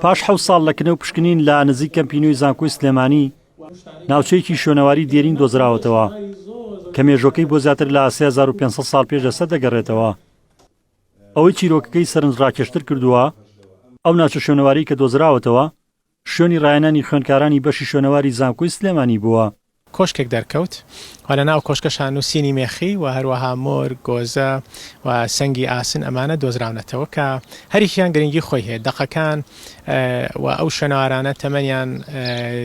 پاش حەوت ساڵ لە کنە و پشکنین لە نزیک کەمپی نوێی زانکۆی سلێمانی ناوچەیەکی شوێنەواری دێرین دۆزراوەتەوە کە مێژۆکەی بۆ زیاتر لە 3500 سال پێش لەسەر دەگەڕێتەوە ئەوەی چیرۆکەکەی سەرنج ڕاکێشتر کردووە ئەو ناچە شوێنەواری کە دۆزراوەتەوە شوێنی ڕایانانی خوێندکارانی بەشی شوێنەواری زانکۆی سلێمانی بووە. کۆشکێک دەرکەوت و لەناو کۆشکەشا نووسینی مێخی و هەروەها مۆر، گۆزە و سەنگی ئاسن ئەمانە دۆزراونەتەوە کە هەریەکیان گرنگی خۆی هەیە. دەقەکان و ئەو شوێنەوارانە تەمەنیان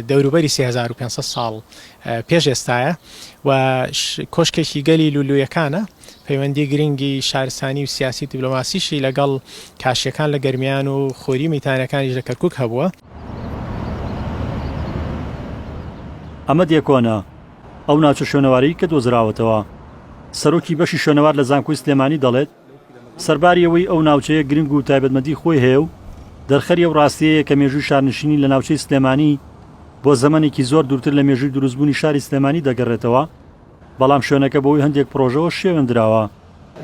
دەوروبەری سێ هەزار و پێنج سەد ساڵ پێش ئێستایە و کۆشکێکی گەلی لولویەکانە. پەیوەندی گرنگی شارستانی و سیاسی و دیبلۆماسیشی لەگەڵ کاشییەکان لە گەرمیان و خوری میتانەکانیش لە کەرکوک هەبووە. ئەمە دێکۆنە، ئەو ناوچە شوێنەوارەی کە دۆزراوەتەوە. سەرۆکی بەشی شوێنەوار لە زانکۆی سلێمانی دەڵێت، سەرباری ئەوەی ئەو ناوچەیە گرنگ و تایبەتمەندی خۆی هەیە و دەرخەری ئەو راستیەیە کە مێژووی شارنشینی لە ناوچەی سلێمانی بۆ زەمەنێکی زۆر دوورتر لە مێژووی دروستبوونی شاری سلێمانی دەگەڕێتەوە، بەڵام شوێنەکە بەهۆی هەندێک پڕۆژەوە شێوێندراوە.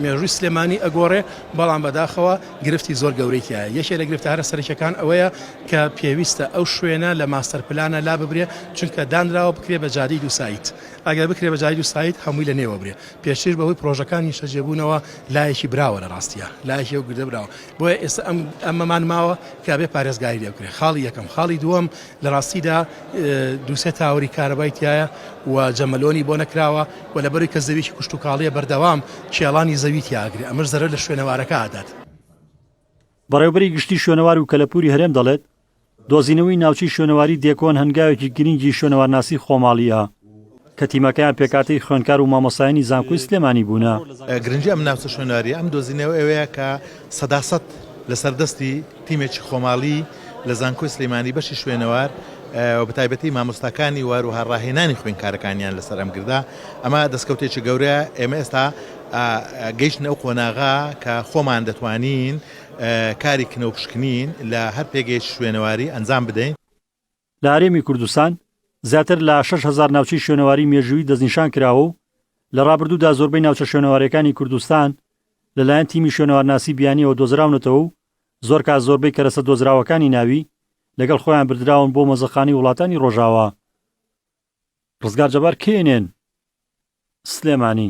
مێژووی سلێمانی ئەگۆڕێ، بەڵام بەداخەوە گرفتی زۆر گەورەی تیایە. یەکێ لە گرفتە هەرە سەرەکیەکان ئەوەیە کە پێویستە ئەو شوێنە لە ماستەر پلانە لاببرێ چونکە دانراوە بکرێ بە جادەی دوو سایت. ئەگەر بکرێ بە جادەی دوو سایت هەمووی لە نێوە برێ. پێشتریش بەهۆی پڕۆژەکان نیشتەجێبوونەوە لایەکی براوە لە ڕاستیا. لایەکی ئەو گردە براوە. بۆیە ئێستا ئەم ئەمەمان ماوە کە ئەبێ پارێزگاری لێ بکرێ. خاڵی یەکەم. خاڵی دووەم لە ڕاستیدا دوو سێ تاوەری کارەبای تیایە و جەمەلۆنی بۆ نەکراوە و لەبەروی کە زەویکی کوشتوکاڵیە بەردەوام کێڵانی زەوی تیا ئەگرێ ئەمەش زەرەر لە شوێنەوارەکە ئەدات. بەڕێوبەری گشتی شوێنەوار و کەلەپوری هەرێم دەڵێت، دۆزینەوەی ناوچەی شوێنەواری دێکۆن هەنگاوێکی گرینگی شوێنەوارناسی خۆماڵییه. کە تیمەکەیان پێکهاتەی خوێندکار و مامۆستایانی زانکۆی سلێمانی بوونە. گرنگی ئەم ناوچە شوێنەوارییە ئەم دۆزینەوە ئەوەیە کە سەدا سەد لەسەر دەستی تیمێکی خۆماڵی لە زانکۆی سلێمانی بەشی شوێنەوار و بەتایبەتی مامۆستاکانی و هەروەها ڕاهێنانی خوێندکارەکانیان لەسەر ئەم گردە ئەمە دەستکەوتێکی گەورەیە ئێمە ئێستا گەیشتنە ئەو قۆناغە کە خۆمان دەتوانین کاری کنە و پشکنین لە هەر پێگەیەکی شوێنەواری ئەنجام بدەین. لە هەرێمی کوردستان زیاتر لە شەش هەزار ناوچەی شوێنەواری مێژوویی دەستنیشان کراوە و لە ڕابردوودا زۆربەی ناوچە شوێنەوارەکانی کوردستان لەلایەن تیمی شوێنەوارناسی بیانیەوە دۆزراونەتەوە و زۆر کات زۆربەی کەرەسە دۆزراوەکانی ناوی لەگەڵ خۆیان بردراون بۆ مۆزەخانەی وڵاتانی ڕۆژاوا ڕزگار جەبار کێنێن سلێمانی